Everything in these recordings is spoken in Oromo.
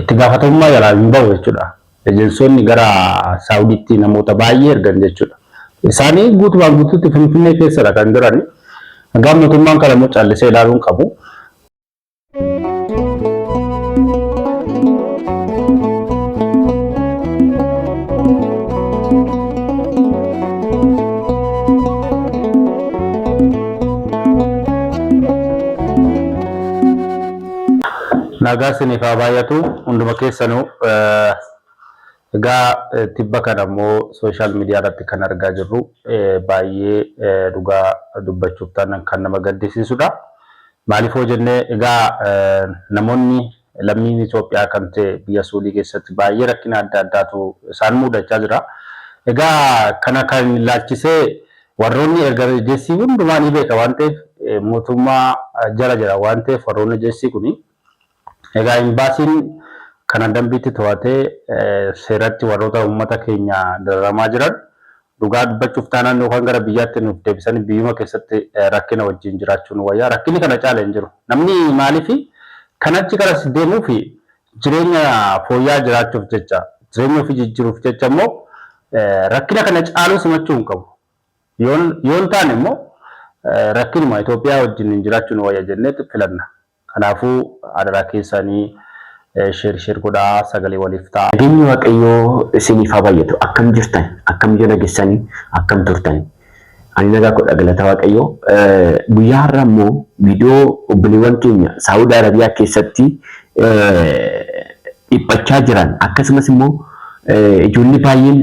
Itti gaafatamummaa jalaa hin bahu jechuudha. Ejensoonni gara Saawudiitti namoota baay'ee ergan jechuudha. Isaanii guutumaan guutuutti Finfinnee keessadha kan jiran. Egaa mootummaan kana immoo callisee ilaaluu hin qabu. Nagaan siniif haa baay'atu hunduma keessanuu. Egaa tibba kana immoo social media irratti kan argaa jirru baay'ee dhugaa dubbachuuf taanaan kan nama gaddisiisudha. Maaliif yoo jenne egaa namoonni lammiin Itoophiyaa kan ta'e biyya Suudii keessatti baay'ee rakkina adda addaatu isaan muudachaa jira. Egaa kana kan ilaalchisee Warroonni erga ejjessii hundumaa ni beeka waan ta'eef mootummaa jala jira waan ta'eef warroonni ejjessii kuni egaa imbaasiin kana dambiitti to'atee seeratti warroota uummata keenya dararamaa jiran dhugaa dubbachuuf taanaan yookaan gara biyyaatti nuuf deebisanii biyyuma keessatti rakkina wajjin jiraachuu nu wayya rakkinni kana caale hin jiru namni maaliif kan achi garas deemuufi Jireenya fooyya'aa jiraachuuf jecha, jireenya ofii jijjiiruuf jecha immoo rakkina kana caaluu simachuu hin qabu. Yoo hin taane immoo rakkinuma Itoophiyaa wajjin jiraachuu nu wayya jenneet filanna. Kanaafuu adaraa keessaanii share share godhaa sagalee waliif ta'aa. Nageenyi waaqayyoo isiniif haa baay'atu akkam jirtan akkam jala gessani akkam turtani. Ani nagaa kodha galata waaqayyoo. Guyyaa har'a immoo viidiyoo obboleewwan keenya Saawud Arabiyaa keessatti dhiphachaa jiran akkasumas immoo ijoollee baay'een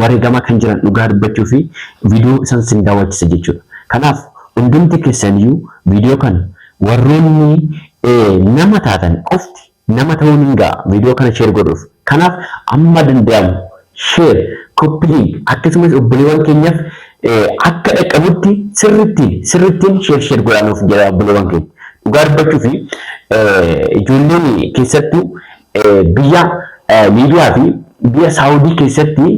wareegamaa kan jiran dhugaa dubbachuu fi viidiyoo isaan sin daawwachisa jechuudha. Kanaaf hundumti keessaniyyuu viidiyoo kana warroonni nama taatan qofti Nama ta'uu nin ga'a video kana share godhuuf kanaaf amma danda'amu share, copy link akkasumas obboleewwan keenyaf akka dhaqqabutti sirrittiin sirrittiin share share godhaa nuuf jedhaa obboleewwan keenya dhugaa dubbachuuf ijoolleen keessattuu biyya Liibiyaa fi biyya Saawudii keessatti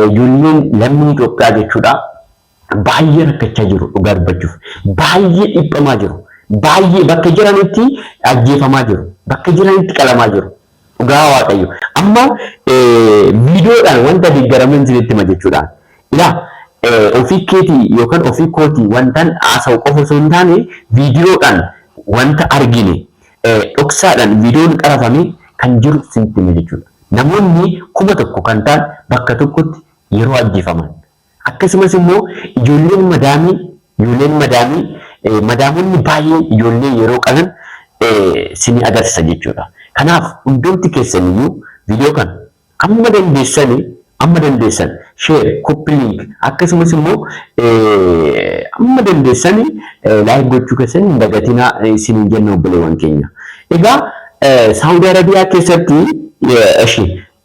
ijoolleen lammii Itoophiyaa jechuudha Baay'ee rakkachaa jiru dhugaa dubbachuuf. Baay'ee dhiphamaa jiru. Baay'ee bakka jiranitti ajjeefamaa jiru. Bakka jiranitti qalamaa jiru. Dhugaa Waaqayyo. Amma viidiyoodhaan wanta deeggaraman isinitti hima jechuudhaan. Ilaa ofii keetii yookaan ofii kootii wantan haasa'u qofa osoo hin taane viidiyoodhaan wanta argine dhoksaadhaan viidiyoon qarafame kan jiru isinitti hima jechuudha. Namoonni kuma tokko kan ta'an bakka tokkotti yeroo ajjeefaman Akkasumas immoo ijoolleen madaamii ijoolleen madaamii madaamonni baay'een ijoollee yeroo qalan sini agarsiisa jechuudha. Kanaaf hundumti keessan iyyuu viidiyoo kana amma dandeessani amma dandeessan share, copy link akkasumas immoo amma dandeessani like gochuu keessan hin dagatinaa isiniin jenna obboleewwan keenya. Egaa Saawudi Arabiyaa keessatti eshi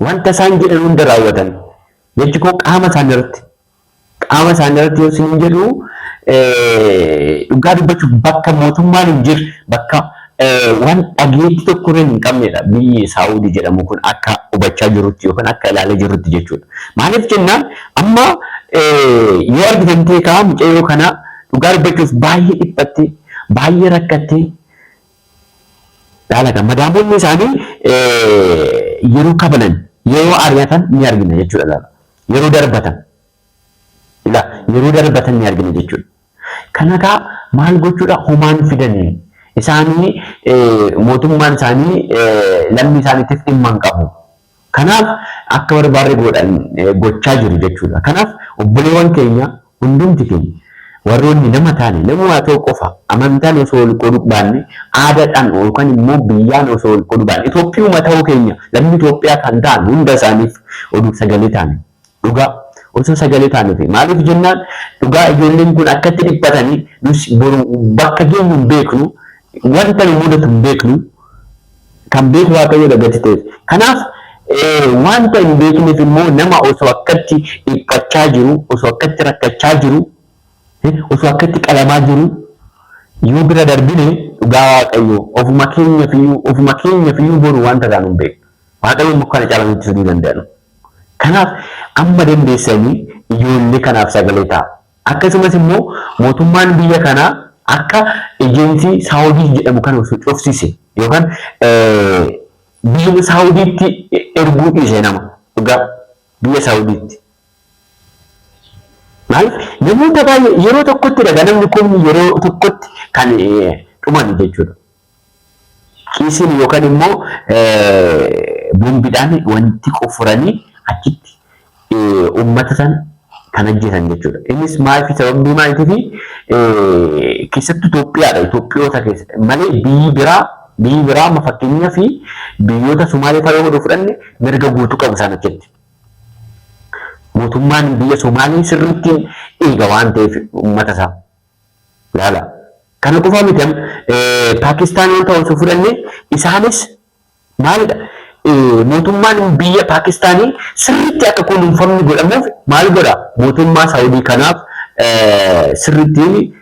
Wanta isaan jedhan hunda raawwatan. Jechi koo qaama isaanii irratti qaama isaanii irratti yoo isiniin jedhu dhugaa dubbachuuf bakka mootummaan hin jirre bakka waan dhageettii tokko irra hin qabnedha biyyi Saawudii jedhamu kun akka hubachaa jirutti yookaan akka ilaalee jirutti jechuudha. Maaliif jennaan amma yoo argitan ta'e kaa mucayyoo kana dhugaa dubbachuuf baay'ee dhiphattee baay'ee rakkattee Dhaalata madaamonni isaanii yeroo kabalan, yeroo ari'atan ni argina jechuudha ilaala. Yeroo darbatan ila yeroo darbatan ni argina jechuudha. Kana egaa maal gochuudha homaan fidanii isaanii mootummaan isaanii lammii isaaniitiif dhimma hin qabu. Kanaaf akka barbaarre goodhan gochaa jiru jechuudha. Kanaaf obboleewwan keenya hundumti keenya warroonni nama taane namumaa ta'u qofa amantaan osoo wal qoodu baanne aadaadhaan yookan immoo biyyaan osoo wal qoodu baanne Itoophiyuma ta'uu keenya lammii Itoophiyaa kan ta'an hunda isaaniif oduu sagalee taane. Dhugaa. Osoo sagalee taane ta'e. Maaliif jennaan dhugaa ijoolleen kun akkatti dhiphatanii nus boru bakka geenyu hin beeknu wanta nu mudatu hin beeknu kan beeku waaqayyoodha gati ta'eef. Kanaaf wanta hin beekneef immoo nama osoo akkatti dhiphachaa jiru osoo akkatti rakkachaa jiru osoo akkatti qalamaa jiru yoo bira darbine dhugaa waaqayyoo ofuma keenyafiyyuu ofuma keenyafiyyuu boru wanta taanu hin beeknu. Waaqayyoon mukkana caalaa nutti fiduu danda'an. Kanaaf amma dandeessanii ijoollee kanaaf sagalee ta'a. Akkasumas immoo mootummaan biyya kanaa akka ejeensii Saawudiis jedhamu kana osoo cufsise yookaan biyya Saawudiitti erguu dhiise nama dhugaa biyya Saawudiitti. Maaliif namoota baay'ee yeroo tokkotti dhagaa namni kumni yeroo tokkotti kan dhumani jechuudha. Kiisiin yookaan immoo bombidhaan wanti qoffuranii achitti uummata san kan ajjeesan jechuudha. Innis maaliif sababii maaliitiifi keessattuu Itoophiyaadha. Itoophiyoota keessa malee biyyi biraa biyyi biraa amma fakkeenyaaf biyyoota Somaalee fa'aa yoo fudhanne mirga guutuu qabu isaan achitti. Mootummaan biyya Somaalee sirriitti eega waan ta'eef uummata isaa. Laala. Kana qofaa miti amma Paakistaan wanta osoo fudhanne isaanis maalidha mootummaan biyya Paakistaanii sirriitti akka kunuunfamni godhamuuf maal godha mootummaa Saawudii kanaaf sirriitti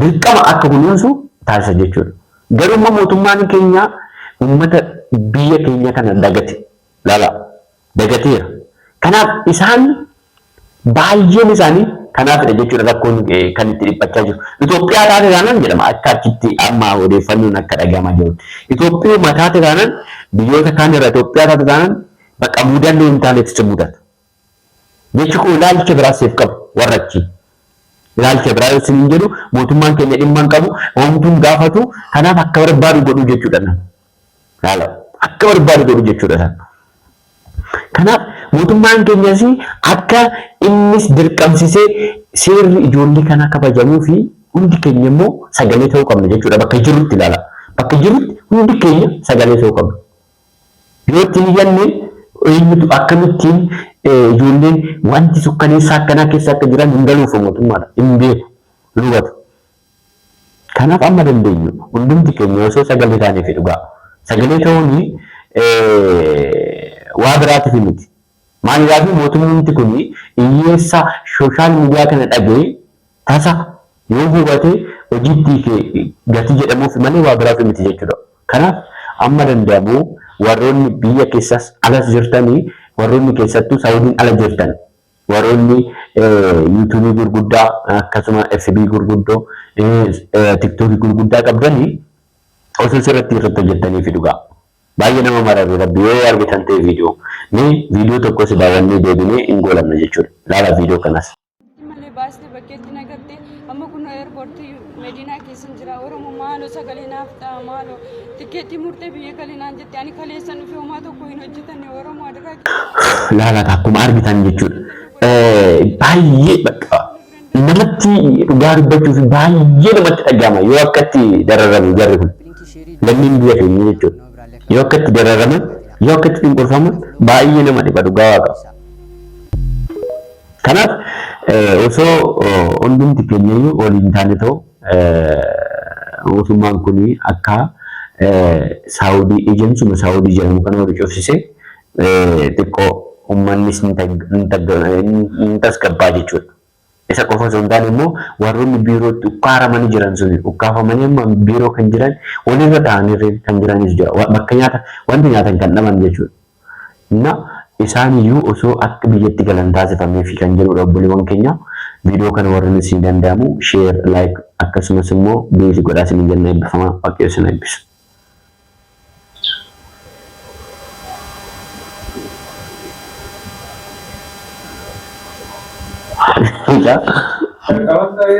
dirqama akka kunuunsu taasisa jechuudha. Garuu immoo mootummaan keenya uummata biyya keenya kana dagate laala. dagateera. Kanaaf isaan baay'een isaanii kanaafidha jechuudha rakkoon kan itti dhiphachaa jiru. Itoophiyaa taate taanaan jedhama akka achitti amma odeeffannoon akka dhagahamaa jiru. Itoophiyuma taate taanaan biyyoota kaan irra Itoophiyaa taate taanaan bakka mudannoo hin taanetti si mudata. Jechi koo ilaalcha biraa siif qabu warra achii. Ilaalcha biraa yoo siniin jedhu mootummaan keenya dhimma hin qabu, homtuu hin gaafatu, kanaaf akka barbaadu godhuu jechuudha. Laala akka barbaadu godhu jechuudha isaan. Kanaaf mootummaan keenyas akka innis dirqamsisee seerri ijoollee kanaa kabajamuu fi hundi keenya immoo sagalee ta'uu qabna jechuudha bakka jirrutti ilaala. Bakka jirrutti hundi keenya sagalee ta'uu qabna. Yoo itti hin iyyanne eenyutu akkamittiin ijoolleen wanti sukkaneessaa akkanaa keessa akka jiran hin galuuf mootummaadha. Hin beeku, hin hubatu. Kanaaf amma dandeenyu hundumti keenya osoo sagalee taaneefi dhugaa. Sagalee ta'uun waa biraatifi miti. Maaliraafi mootummumti kun iyyeessa social media kana dhaga'e tasa yoo hubate hojiitti hiike gatii jedhamuufi malee waa biraafi miti jechuudha. Kanaaf amma danda'amu warroonni biyya keessas alas jirtani warroonni keessattuu Saudiin ala jirtan Warroonni YouTube gurguddaa akkasuma FB gurguddoo TikTok gurguddaa qabdanii osoo sirratti irratti hojjettanii fi dhugaa baay'ee nama mararri rabbi yoo argitan ta'e viidiyoo mee viidiyoo tokkos daawwannee deebinee hin goolabna jechuudha laala viidiyoo kanas. bakkeetti nagartee amma kun eerpoortii mediinaa keessan jira oromo maaloo sagalee naaf ta'a maaloo tikkeettii murtee biyya galinaan jette ani kaleessan dhufee homaa tokko hin hojjetanne oromo adaraa kee laalata akkuma argitan jechuudha. Eh, Baay'ee bakka namatti dhugaa dubbachuuf baay'ee namatti dhaga'ama yoo akkatti dararamu jarri kun. Lammiin biyya keenya jechuudha. Yoo akkatti dararaman yoo akkatti cunqurfaman baay'ee nama dhiba dhugaa waaqa. Kanaaf osoo hundumti keenyayyuu waliin taane ta'u mootummaan kun akka Saawudii ejensuma Saawudii jedhamu kana wali cufsise xiqqoo ummannis ni tasgabbaa jechuudha. Isa qofa osoo hin taane immoo warroonni biirootti ukkaaramanii jiran sun ukkaafamanii amma biiroo kan jiran walirra taa'anii kan jiranis jira. Bakka nyaata wanti nyaatan kan dhaban jechuudha. na isaan iyyuu osoo akka biyyatti galan taasifameefi kan jedhuudha obboleewwan keenya video kana warren isinii danda'amu share like akkasumas immoo base godhaa isiniin jenna eebbifama waaqayyo isin eebbisu. Mucaa. Jalqabas ta'ee